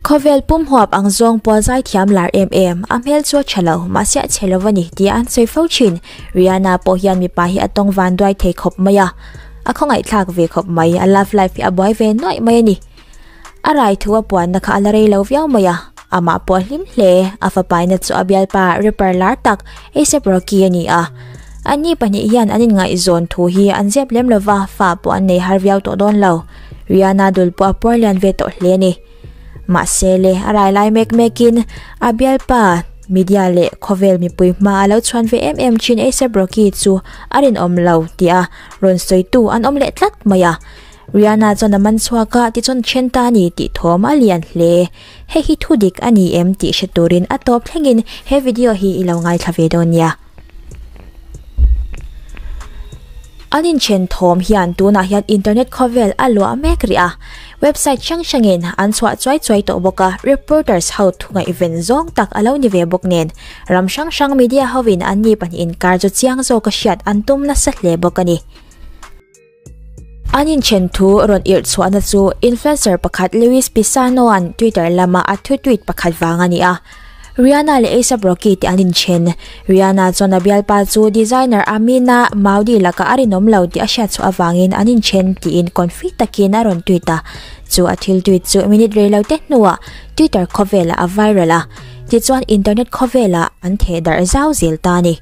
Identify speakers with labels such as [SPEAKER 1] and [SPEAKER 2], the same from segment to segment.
[SPEAKER 1] Khawvel pum huap ang zawng pawh zai thiam lar em em, a hmel chu a tha lo, mahse a chhe lo va ni tia an sawi fo thin. Riana pawh hian mipa hi a tawng van duai thei khawp mai a, a khawngaih thlak ve khawp mai, a love life hi a buai ve nuaih mai a ni. A raithu a puanna kha a la rei lo viau mai a, amah pawh a hlim hle. A fapaina chu a bialpa Ripper lar tak Asap Rocky a ni a. Anni pahnih hian an inngaihzawn thu hi an ziap lem lo va, fa pawh an nei har viau tawh dawn lo. Riana dul pawh a puarlian ve tawh hle a ni. Mahse le, a rai lai mek mekin a bialpa media leh khawvel mipui hma a lo chhuan ve em em thin Asap Rocky chu a rinawm lo tia rawn sawitu an awm leh tlat mai a. Riana chuan a man chhuak a, tichuan ṭhen ta a ni tih thawm a lian hle. Hei hi thu dik a ni em tih hre turin a tawp thlengin he video hi i lo ngaithla ve dawn nia. An inthen thawm hian tunah hian internet khawvel a luah mek rih a, website hrang hrangin an chhuah chuai chuai tawh bawk a, reporters ho thu ngaihven zawng tak a lo ni ve bawk nen ram hrang hrang media hovin anni pahnih inkar chu chiang zawk a hriat an tum nasa hle bawk a ni. An inthen thu rawn irh chhuahna chu influencer pakhat Luis Pisano-a'n Twitter lama a thu tweet pakhat vang a ni a. Rihanna leh A$ap Rocky te an inthen. Rihanna chuan a bialpa chu designer Amina Maudi lakah a rinawm lo tih a hriatchhuah avangin an inthen tiin confuse takin a rawn tweet a. Chu a thil tweet chu minute rei lo te hnuah Twitter khawvelah a viral a. Tichuan internet khawvelah an theh darh zau zel ta a ni.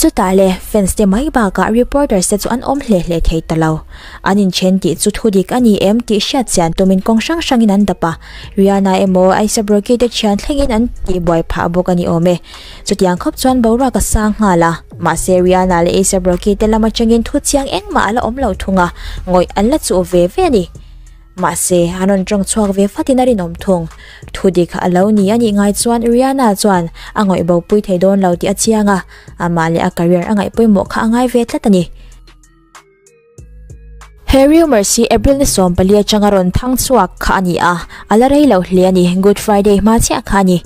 [SPEAKER 1] Chutah le fans te mai bakah reporters te chu an awm hle hle thei ta lo. An inthen tih chu thu dik a ni em tih hriat chian tumin kawng hrang hrangin an dap a. Rihanna emaw Aisa Brocky te thian thlengin an tih buai phah bawk a ni awm e. Chutiang khawp chuan boruak a sang nghal a. Mahse Rihanna leh Aisa Brocky te lam atangin thu chiang engmah a la awm lo thung a, ngawih an la chuh ve ve a ni. Mahse, a rawn tawng chhuak ve fatin a rinawm thung. Thu dik a lo ni a nih ngai chuan Riana chuan a ngawihbo pui thei dawn lo tih a chiang a, amah leh a career a ngaih pawimawh kha a ngai ve tlat a ni. He rumours hi April ni sawm pali atanga rawn thang chhuak kha a ni a, a la rei lo hle a ni, Good Friday hma chiah kha a ni.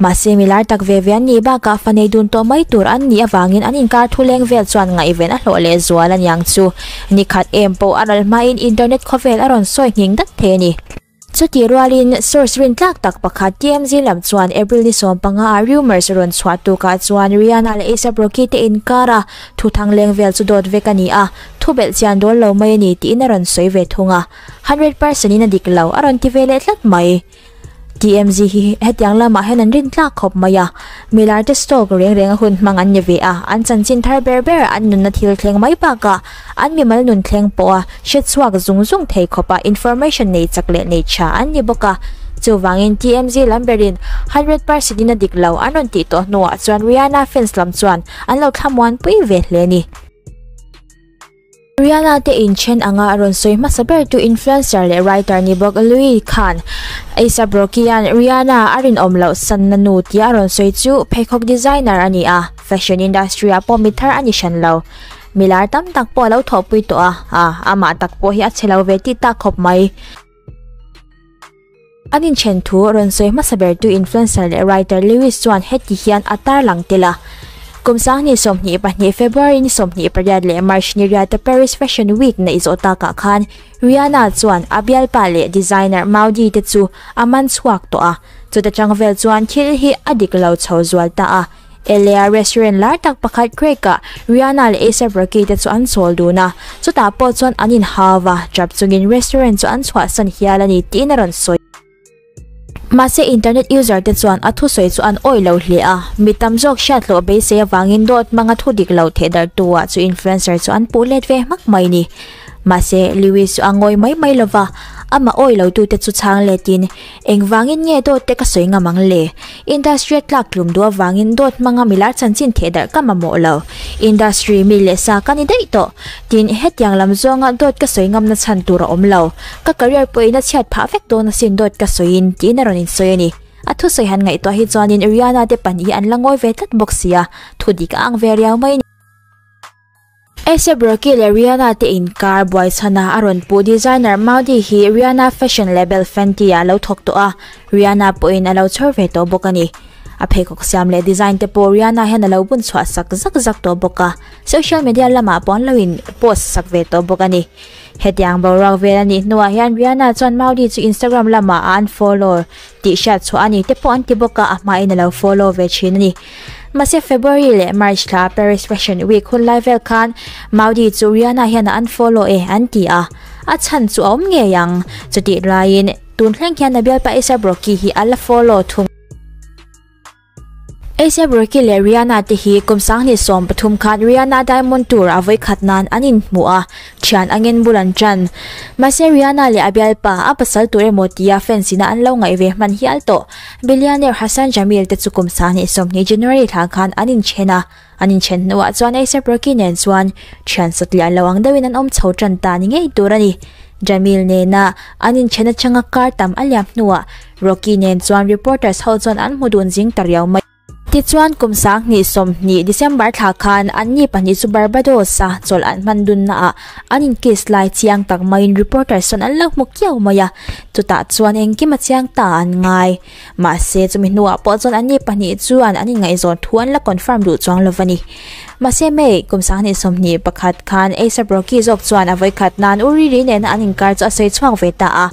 [SPEAKER 1] Mahse, mi lar tak ve ve an nih bakah fanei dun tawh mai tur an nih avangin an inkar thuleng vel chuan ngaihven a hlawh lehzual a niang chu. Nikhat em pawh a ral hmain internet khawvel a rawn sawi ngheng dat thei a ni. Chutih rualin source rin tlak tak pakhat TMZ lam chuan April ni sawm panga ah rumours a rawn chhuah tukah chuan Rihanna leh ASAP Rocky te inkara thu thangleng vel chu dawt vek a ni a, thubelh chian dawl lo mai a ni tiin a rawn sawi ve thung a. Hundred percent in a dik lo a rawn ti ve leh tlat mai. TMZ hi hetiang lamah hian an rin tlak khawp mai a, Milarte stock reng renga hun hmang an ni ve a, an chanchin thar ber ber an nunna thil thleng mai bakah an mimal nun thleng pawha hretchhuak zung zung thei khawpa information nei chak leh nei tha an ni bawk a. Chuvangin TMZ lam berin hundred percent in a dik lo an rawn tih tawh hnuah chuan Rihanna fans lam chuan an lo thlamuan pui ve hle a ni. Riana te in then anga a rawn sawi hmasa bertu influencer leh writer ni bawk Louis khan A$ap hian Riana a rinawm loh sanna nu tia a rawn sawi chu pheikhawk designer a ni a, fashion industry ah pawh mithlar a ni hran lo. Mi lar tam tak pawh a lo thawhpui tawh a, a amah tak pawh hi a che lo ve tih ta khawp mai. An inthen thu rawn sawi hmasa bertu influencer leh writer Lewis chuan heti hian a tarlang tel a, Kum Sangni sawmhnih pahnih, February ni sawmhnih pariat leh March ni riata Paris Fashion Week neih zawh takah khan Rihanna chuan a bialpa leh designer Maudie te chu a man chhuak tawh a. Chutachang vel chuan thil hi a dik lo chho zual ta a. Elea restaurant lar tak pakhat Craig ah Riana leh Asa Brakey te chu an chawl dun a, chutah pawh chuan an inha va tap chungin restaurant chu an chhuahsan hial a ni tiin a rawn sawi. Mahse internet user te chuan a thusawi chu an awih lo hle a, mi tam zawk hriathlawh beisei avangin dawt hmanga thu dik lo thehdartu ah chu influencer chu an puh let ve hmak mai ni. Mahse Lewis chu a ngawi mai mai lova, amah awih lo tute chu chhang letin, Engvangin nge dawt te ka sawi ngam ang le? Industry a tlak tlum duh avangin dawt hmanga mi lar chanchin theh darh ka mamawh lo. Industry mi leh sa ka ni daih tawh. Tin, hetiang lam zawnga dawt ka sawi ngamna chhan tur a awm lo. Ka career pawh in a chhiat phah vek dawn asin dawt ka sawi in, tiin a rawn insawi a ni. A thusawi han ngaihtuah hi chuanin Riana te pahnih hi an la ngawi ve tlat bawk sia, thudik a ang ve riau mai a ni. Asap Rocky leh Rihanna te in kar buai chhana a rawn puh designer Maudie hi Rihanna fashion label Fenty-a lo thawk tawh a, Rihanna pawhin a lo chhawr ve tawh bawk a ni. A pheikhawk siam leh design te pawh Rihanna hian a lo bun chhuah sak zak zak tawh bawk a, social media lamah pawh an lo in post sak ve tawh bawk a ni. Hetiang boruak vel a nih hnuah hian Rihanna chuan Maudie chu Instagram lamah a unfollow tih hriat chhuah a ni te pawh an ti bawk a, a hmain a lo follow ve thin a ni. Mahse February leh March thla Paris Fashion Week hun lai vel khan Maudi chu Rihanna hian a unfollow e an ti a, a chhan chu a awm ngei ang. Chutih laiin tun thleng hian a bialpaisa Brockie hi a la follow thung. Asap Rocky leh Rihanna te hi kum sanghnih sawm pathum khan Rihanna Diamond Tour a vawi khat nan an inhmuh a, thian a ngen bul an tan. Mahse Rihanna leh a bialpa, a pasal tur emaw tia fans ina an lo ngaih ve hman hial tawh. Billionaire Hassan Jamil te chu kum sanghnih sawmhnih January thla khan an inṭhen a. An inthen hnuah chuan Acer Perky nen chuan thian satliah lo ang deuhin an awm chho tan ta ni ngei tur a ni. Jamil nena an inthen atanga kar tam a liam hnuah Rocky nen chuan reporters ho chuan an hmu dun zing ta riau mai. Tichuan, kum sang hnih sawmhnih, December thla khan anni pahnih chu Barbados-a chawlh an hman dunnaah an in kiss lai chiang tak maiin reporters chuan an lo hmu kiau mai a. Chutah chuan engkim a chiang ta an ngai. Mahse, chumi hnuah pawh chuan an ni pahnih chuan an inngaihzawn thu an la confirm duh chuang lo a ni. Mahse May, kum sang hnih sawmhnih pakhat khan Acer Brockie zawk chuan a vawikhat nan u ri ri nena an inkar chu a sawi chhuak ve ta a,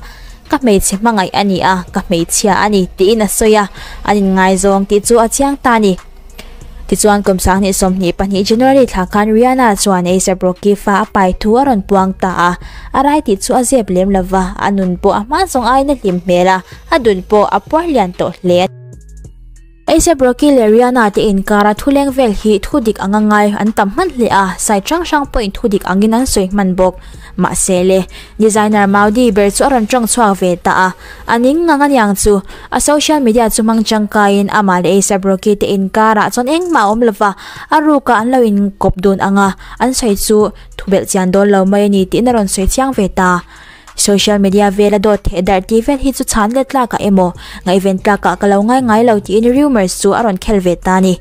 [SPEAKER 1] Ka hmeichhe hmangaih a ni a, ka hmeichhia a ni, tiin a sawi a, an inngaizawng tih chu a chiang ta a ni. Tichuan, kum sanghnih sawmhnih pahnih January thla khan Rihanna chuan A$ap Rocky fa a pai thu a rawn puang ta a, a rai tih chu a zep lem lo va, a nun pawh a hma zawng aiin a hlim hmel a, a dul pawh a puar lian tawh hle a ti. A$ap Rocky leh Rihanna te inkara thuleng vel hi thu dik anga ngai an tam hman hle a, site hrang hrang pawhin thu dik angin an sawi hman bawk. Mahsele, designer Maudi ber chu a rawn tawng chhuak ve ta a. A ning ngang aniang chu, a social media chu hmang tangkaiin amah leh Acer Brockie te inkarah chuan engmah a awm lo va, a rukah an lo inkawp dun ang a, an sawi chu thu belh chian dawn lo mai a ni tiin a rawn sawi chiang ve ta. Social media vela dawt theih darh ti vel hi chu chhan let tlakah emaw, ngaihven tlakah ka lo ngaingai lo tiin rumours chu a rawn khel ve ta a ni.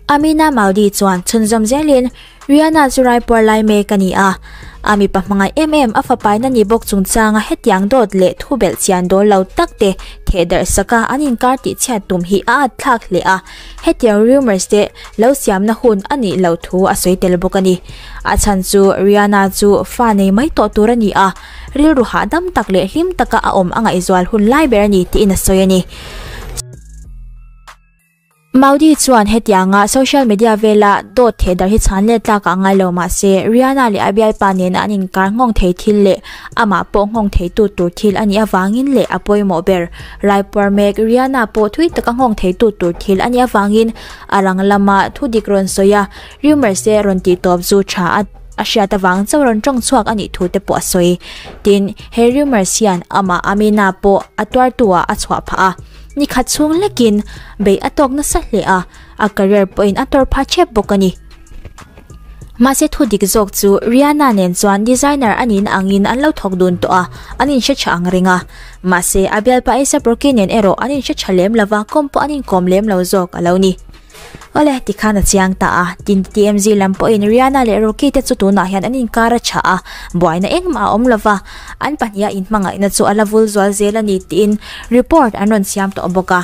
[SPEAKER 1] Amina Maldi chuan chhunzawm zelin, Riana chu raipuar lai mek a ni a, a mipa hmangaih em em a fapaina ni bawk chungchanga hetiang dawt leh thu belh chian dawn lo takte theh darhsaka an inkar tih chhiat tum hi a atthlak hle a, hetiang rumours te lo siamna hun a nih loh thu a sawi tel bawk a ni. A chhan chu Riana chu fa nei mai tawh tur a ni a, rilru hahdam tak leh hlim taka a awm a ngaihzual hun lai ber a ni tiin a sawi a ni. Maudi chuan hetianga social media vela dawt theh dar hi chhan let tlakah ngai lo mah se Rihanna leh a bialpa nena an inkar nghawng thei thil leh amah pawh nghawng theitu tur thil a nih avangin leh a pawimawh ber rai puar mek Rihanna pawh thui taka nghawng theitu tur thil a nih avangin a rang lama thu dik rawn sawi a rumours te rawn tih tawp zu tha a a hriat avang chauh rawn tawng chhuak a nih thu te pawh a sawi tin he rumours hian amah Amina pawh a tuartu ah a chhuah phah a. Ni khat chhung hlekin beih a tawk nasa hle a, a career pawhin a tawr pha chep bawk a ni. Mahse thu dik zawk chu Rihanna nen chuan designer a niin angin an lo thawk dun tawh a, an inhre tha ang reng a. Mahse a bialpa A$ap Rocky nen erawh an inhre tha lem lova kawm pawh an inkawm lem lo zawk a lo ni. Awle, ti khan a chiang ta a, tin TMZ lam pawhin Rihanna leh Rocky te chu tunah hian an inkar a tha a, buaina engmah a awm lo va, an pahniha inhmangaihna chu a la vul zual zel a ni tiin report an rawn siam tawh bawk a.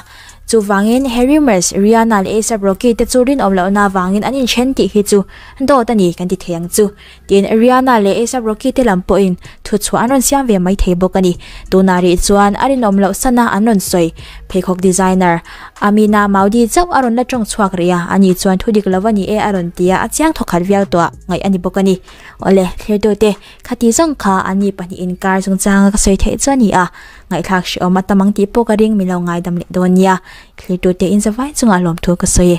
[SPEAKER 1] Chuvangin, he rumours Rihanna leh ASAP Rocky te chu rinawm lohna avangin an inthen tih hi chu dawt a ni kan ti thei ang chu. Tin, Riana leh Asap Rocky te lam pawhin thutchhuah an rawn siam ve mai thei bawk a ni. Tunah rih chuan a rinawm loh sana an rawn sawi. Pheikhawk designer Amina Maudi chauh a rawn la tawng chhuak rih a, ani chuan thu dik lo a ni e a rawn ti a, a chiang thaw khat viau tawh ngaih a ni bawk a ni. Awle, thlertute, khati zawng kha an ni pahnih inkar chungchanga ka sawi theih chu a ni a, ngaihthlak hreh awm a tam ang tih pawh ka ring mi lo ngaidam leh dawn nia, thlertute inzavai chunga lawmthu ka sawi e.